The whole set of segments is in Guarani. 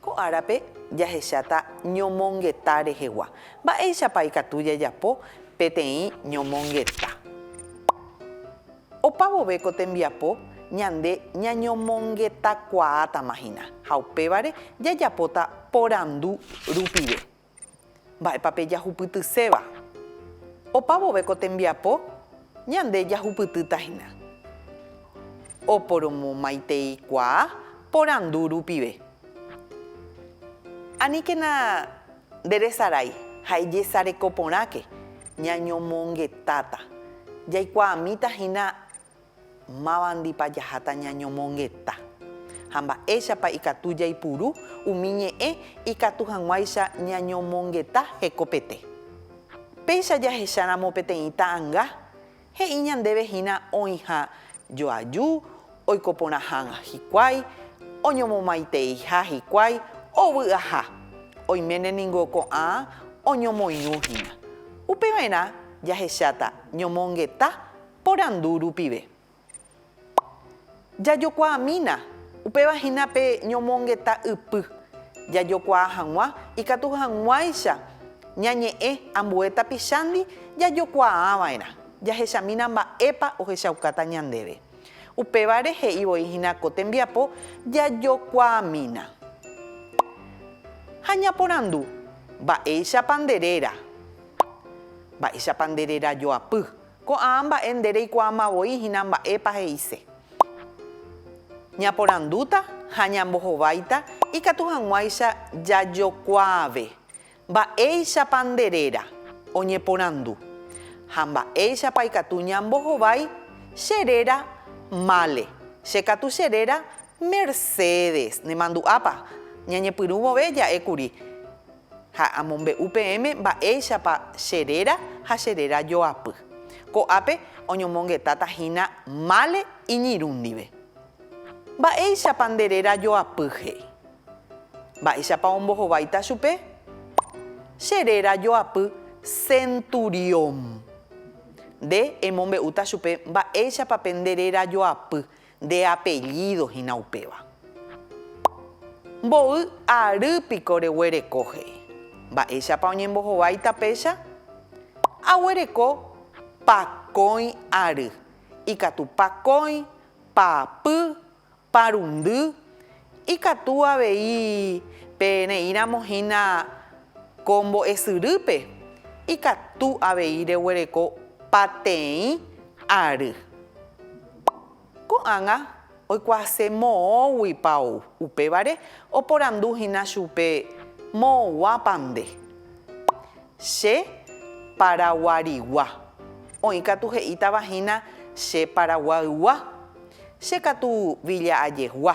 Ko árape jahecháta ñomongeta rehegua. Mba'éichapa ikatu jajapo peteĩ ñomongeta? Opa vove ko tembiapo ñande ñañomongetakuaátamahina ha upévare jajapóta porandu rupive. Mba'épa pe jahupytyséva? Opa vove ko tembiapo, ñande jahupytýta hína. Oporomomaiteikuaa porandu rupive. Aníkena nderesarái ha ejesareko porãke, ñañomongetáta, jaikuaamíta hína Mávandipa jaháta ñañomongeta, ha mba'éichapa ikatu jaipuru umi ñe'ẽ ikatu hag̃uáicha ñañomongeta hekopete? Péicha jahecháramo peteĩ ta'anga, he'i ñandéve hína oĩha joaju, oiko porã hag̃ua hikuái, oñomomaiteeiha hikuái, ovy aha. Oiméne ningo ko'ã oñomoirũ hína. Upeva'erã jahecháta ñomongeta Porandu rupive. Jajokuaamína, upéva hína pe ñomongeta ypy, jajokuaa hag̃ua ikatu hag̃uáicha ñañe'ẽ ambue tapichándi jajokuaava'erã, jahechamína mba'épa ohechaukáta ñandéve. Upévare he'i voi hína ko tembiapo jajokuaamína. Ha ñaporandu, Mba'éichapa nde réra? Mba'éichapa nde rerajoapy? Ko'ã mba'e nde reikuaáma voi hína mba'épa he'ise. Ñaporandúta ha ñambohováita ikatu hag̃uáicha jajokuaave mba'éichapa nde réra oñeporandu ha mba'éichapa ikatu ñambohovái che réra mále, che katu che réra Mercedes, nemandu'ápa? Ñañepyrũ vove ja'e kuri. Ha amombe'u peẽme mba'éichapa che réra ha che réra joapy. Ko'ápe oñomongetáta hína mále iñirũ ndive. Mba'éichapa nde réra joapy he'i. Mba'éichapa ombohováita chupe? Che réra joapy Centurión. Nde emombe'úta chupe mba'éichapa pe nde réra joapy Nde apellído hína upéva. Mboy ary piko reguereko he'i. Mba'éichapa oñembohovái tapéicha? Aguereko pakõi ary, ikatu pakõi, paapy, parundy, ikatu avei pe reíramo hína ko mbo'esyrýpe, ikatu avei reguereko pateĩ ary. Ko'ág̃a oikuaase moõguipa ou. Upévare oporandu hína chupe, Moõguápa nde? Che paraguarigua. Oĩ katu he'ítava hína che paraguaygua, che katu villa'ajegua.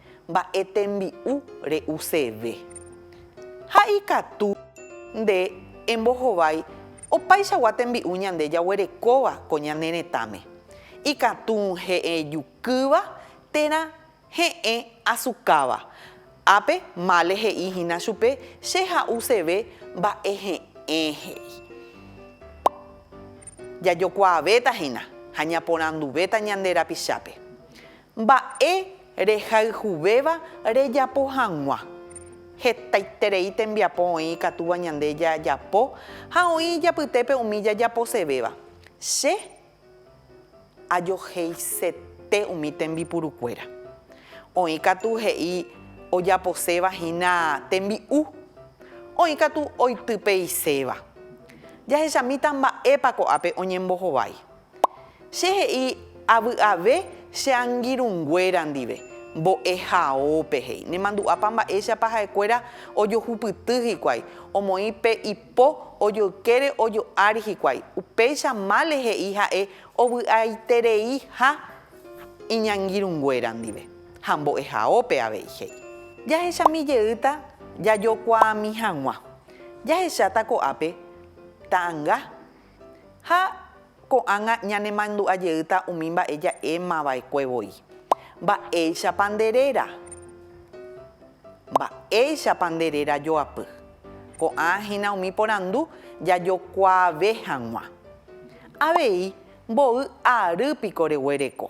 Mba'e tembi'u re'useve. Ha ikatu nde embohovái opaichagua tembi'u ñande jaguerekóva ko ñane retãme. Ikatu he'ẽ jukýva térã he'ẽ asukáva. Ápe Male he'i hína chupe che ha'useve mba'e he'ẽ he'i. Jajokuaavéta hína ha ñaporanduvéta ñande rapichápe. Mba'e rehayhuvéva rejapo hag̃ua. Hetaiterei tembiapo oĩ ikatúva ñande jajapo ha oĩ ijapytépe umi jajaposevéva. Che ajoheisete umi tembipurukuéra. Oĩ katu he'i ojaposéva hína tembi'u. Oĩ katu oitypeiséva. Jahechamíta mba'épa ko'ápe oñembohovái. Che he'i avy'ave che angirũnguéra ndive, Mbo'ehaópe, he'i, nemandu'ápa mba'éichapa ha'ekuéra ojohupyty hikuái, omoĩ pe ipo ojoykére ojo ári hikuái, upéicha mále he'i ha'e ovy'aitereiha iñangirũnguéra ndive, ha mbo'ehaópe avei, he'i. Jahechami jeýta jajokuaami hag̃ua, jahecháta ko'ápe ta'anga. Ha ko'ág̃a ñanemandu'a jeýta umi mba'e ja'éma va'ekue voi. Mba'éichapa nde réra? Mba'éichapa nde réra joapy? Ko'ã hína umi porandu jajokuaave hag̃ua. Avei mboy ary piko reguereko.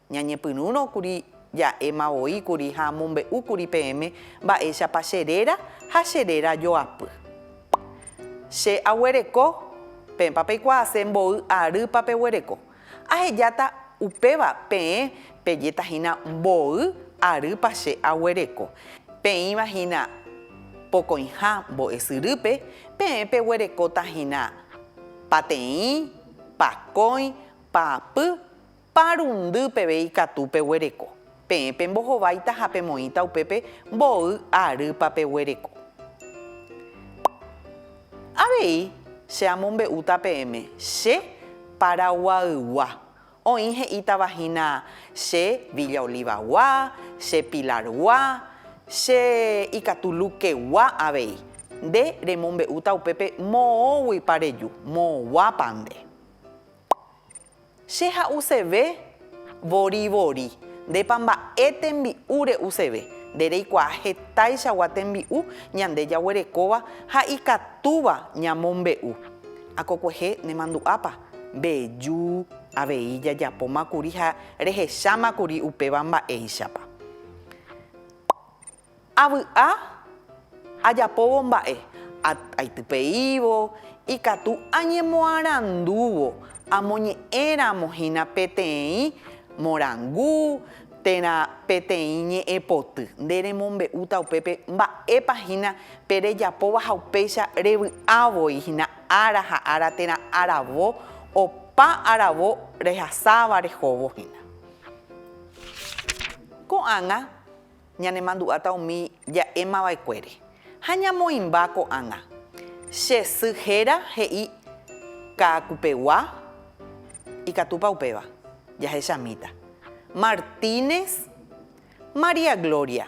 Ñañepyrũrõ kuri ja'éma voi kuri ha amombe'u kuri peẽme mba'éichapa che réra ha che réra joapy. Che aguereko, peẽpa peikuaase mboy arýpa peguereko. Ahejáta upéva peẽ pejéta hína mboy arýpa che aguereko. Peĩva hína pokõiha mbo'esyrýpe, peẽ peguerekóta hína pateĩ, pakõi, paapy, Parundy peve ikatu peguereko. Peẽ pembohováita ha pemoĩta upépe mboy arýpa peguereko. Avei che amombe'úta peẽme che Paraguaygua. Oĩ he'ítava hína che Villa Olivagua, che Pilargua, che ikatu Luquegua avei. Nde remombe'úta upépe moõguipa reju, moõguápa nde. Che ha'useve vorivori. Ndépa mba'e tembi'u re'useve. Nde reikuaa hetaichagua tembi'u ñande jaguerekóva ha ikatúva ñamombe'u. Akokuehe nemandu'ápa? Mbeju avei jajapóma kuri ha rehecháma kuri upéva mba'éichapa. Avy'a ajapóvo mba'e aitypeívo ikatu añemoarandúvo amoñe'ẽramo hína peteĩ morangu térã peteĩ ñe'ẽpoty. Nde remombe'úta upépe mba'épa hína pe rejapóva ha upéicha revy'a voi hína ára ha ára térã aravo opa aravo rehasáva rehóvo hína. Ko'ág̃a Ñanemandu'áta umi ja'émava'ekuére ha ñamoĩmba ko'ág̃a. Che sy héra he'i Kaakupegua, ikatúpa upéva? Jahechamíta. Martínez, María Gloria,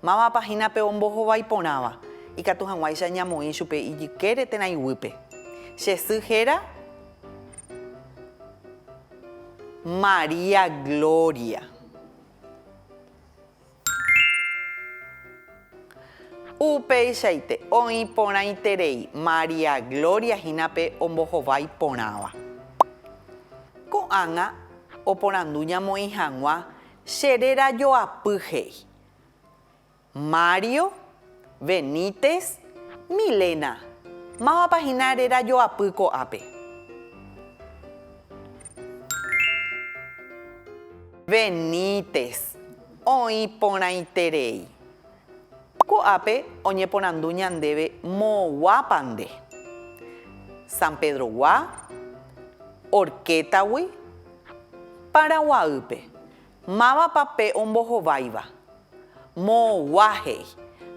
mávapa hína pe ombohovái porãva, ikatu hag̃uáicha ñamoĩ chupe ijykére térã iguýpe. Che sy héra María Gloria. Upeichaite oĩ porãiterei María Gloria hína pe ombohovái porãva. Ko'ág̃a oporandu ñamoĩ hag̃ua che réra joapy he'i. Mario, Benítez, Milena, mávapa hína rerajoapy ko'ápe? Benítez, Oĩ porãiterei. Ko'ápe oñeporandu ñandéve moõguápa nde. San Pedrogua, Orquétagui, Paraguaýpe, Mávapa pe ombohováiva? Moõgua he'i.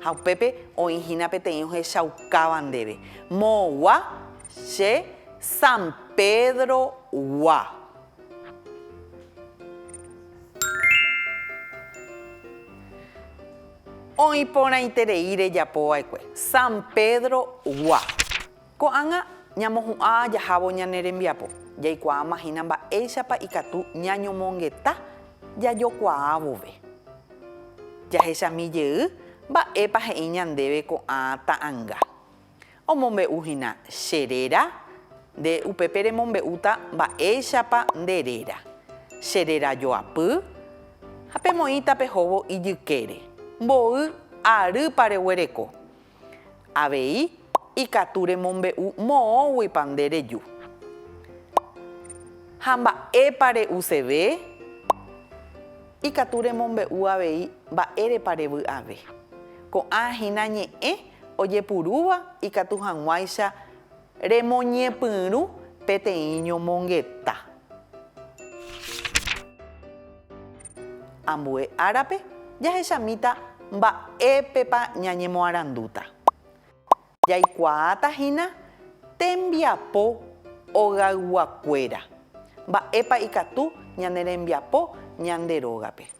Ha upépe oĩ hína peteĩ ohechaukáva ndéve. Moõgua che San Pedrogua. Oĩ porãiterei rejapova'ekue. San Pedrogua. Ko'ág̃a ñamohu'ã jahávo ñane rembiapo, jaikuaáma hína mba'éichapa ikatu ñañomongeta jajokuaa vove. Jahechami jey mba'épa he'i ñandéve ko'ã ta'anga. Omombe'u hína che réra, nde upépe remombe'úta mba'éichapa nde réra, che réra joapy, ha pemoĩ tapehóvo ijykére, mboy arýpa reguereko. Avei ikatu remombe'u moõguipa nde reju. Ha mba'épa re'useve? Ikatu remombe'u avei mba'érepa revy'ave. Ko'ã hína ñe'ẽ ojepurúva ikatu hag̃uáicha Remoñepyrũ peteĩ ñomongeta. Ambue árape jahechamíta mba'épepa ñañemoarandúta. Jaikuaáta hína tembiapo ogayguakuéra, mba'épa ikatu ñane rembiapo ñande rógape.